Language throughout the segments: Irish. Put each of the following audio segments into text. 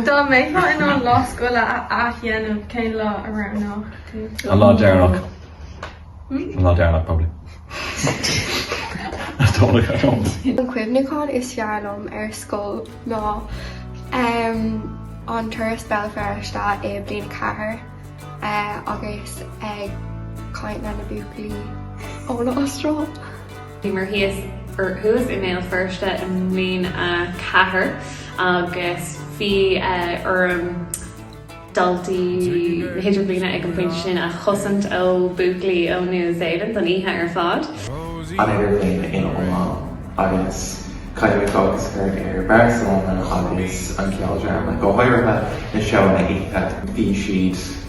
Dá mbeifeá in ann lá scoile a athdhéanamh, cén lá a roghnófá? An lá deireanach. An lá deireanach probably. I don't know, I don't. An cuimhniúchán is fearr liom ar scoil ná an turas Béal Feirste i Bliain a Ceathair agus ag caint leis na buachaillí ón Astráil. Bhí mé thíos, or thuas i mBéal Feirste i mbliain a ceathair agus bhí orm daltaí na hidirbhliana ag an bpointe sin a chosaint ó buachaillí ó New Zealand don oíche ar fad. an idirbhliain ina iomlán agus caithfidh mé fócas a chur ar Barcelona agus an ceoldráma, go háirithe na seóanna oíche. Bhí siad.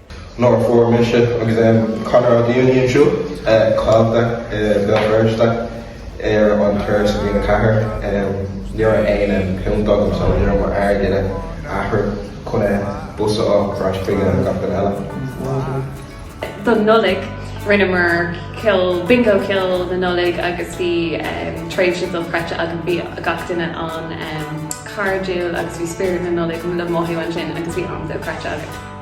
Nuair a fuair mise agus Conor ár dtuairim siúd, caillte i Béal Feirste ar an turas i mbliain 4, ní raibh aon púnt agam so ní raibh m'airgead athraithe chun a bus a fháil ar ais chuig gach duine eile. Don Nollaig, rinneamar ceoil, bingo ceoil na Nollag agus bhí tréimhse dochreidte agam, bhí gach duine an-chairdiúil agus bhí spiorad na Nollag le mothú ansin agus bhí am dochreidte againn.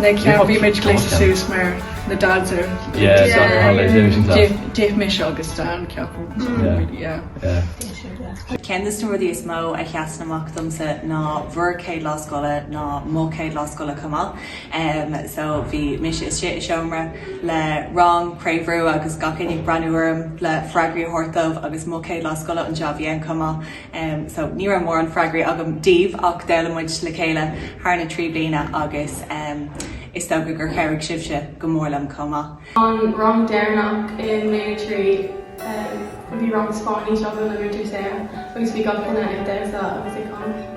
Nuair a bhí muid glaoite suas mar na dads ar d'ith mise agus Dan ceapadh. Ceann de na rudaí is mó a sheasann amach domsa ná bhur céad lá scoile ná mo chéad lá scoile chomh maith. So bhí mise istigh i seomra le rang, príomhrú agus gach éinne ag breathnú orm le freagraí a thabhairt dóibh agus mo chéad lá scoile anseo a bhí ann chomh maith. so ní raibh mórán freagraí agam daoibh ach d'fhoghlaim muid le chéile thar na trí bliana agus is dócha gur chabhraigh sibhse go mór liom chomh maith. An rang deireanach i mbliain a trí, bhí rang Spáinnise againn le Múinteoir Sarah agus bhí gach duine ag damhsa agus ag canadh.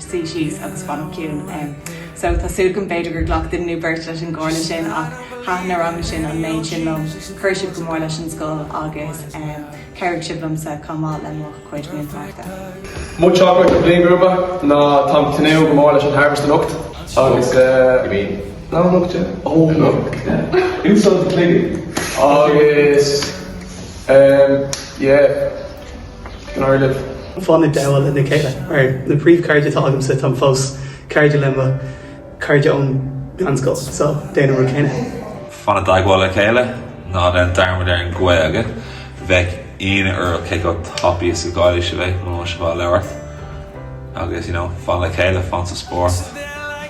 suí síos agus fanacht ciúin. So tá súil agam b'fhéidir gur ghlac duine nó beirt leis an gcomhairle sin ach thaitin na ranganna sin an méid sin liom, chuir sibh go mór leis an scoil agus chabhraigh sibh liomsa chomh maith le mo chuid múinteoireachta. Mo theachtaireacht don bhliain grúpa ná táim tnúth go mór leis an Harvest anocht agus nach anocht é? Ó anocht yeah. Úsáid an cloigeann agus yeah Gaillimh. Fan i dteagmháil lena chéile. Ar na príomh cairde atá agamsa, táim fós cairde le mo cairde ón meánscoil, so déan an rud céanna. Fan i dteagmháil le chéile, ná déan dearmad ar an Ghaeilge, bheadh ionadh oraibh cé chomh tapaidh is a chailleann sibh é, muna bhfuil sibh á labhairt. Agus you know, fan le chéile, fan sa spórt.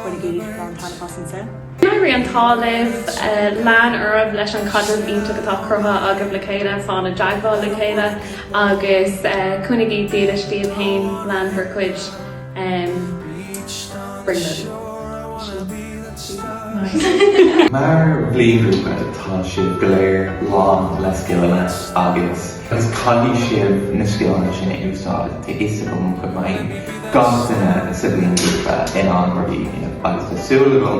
Bainigí lán taitneamh as an saol. Go raibh an t-ádh libh. Lean oraibh leis an chaidreamh iontach atá cruthaithe agaibh le chéile, fan i dteagmháil le chéile agus coinnigí dílis díbh fhéin. Lean bhur cuid brionglóidí. Mar bhliainghrúpa tá sibh go léir lán le scileanna agus. Agus caithfidh sibh na scileanna sin a úsáid, tá fhios agam go mbeidh gach duine sa bhliainghrúpa in ann rudaí a dhéanamh agus tá súil agam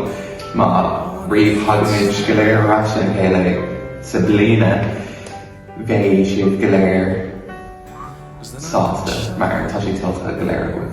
nuair a thagaimid go léir ar ais le chéile sa bliana bheidh sibh go léir sásta mar tá sé tuillte go léir agaibh.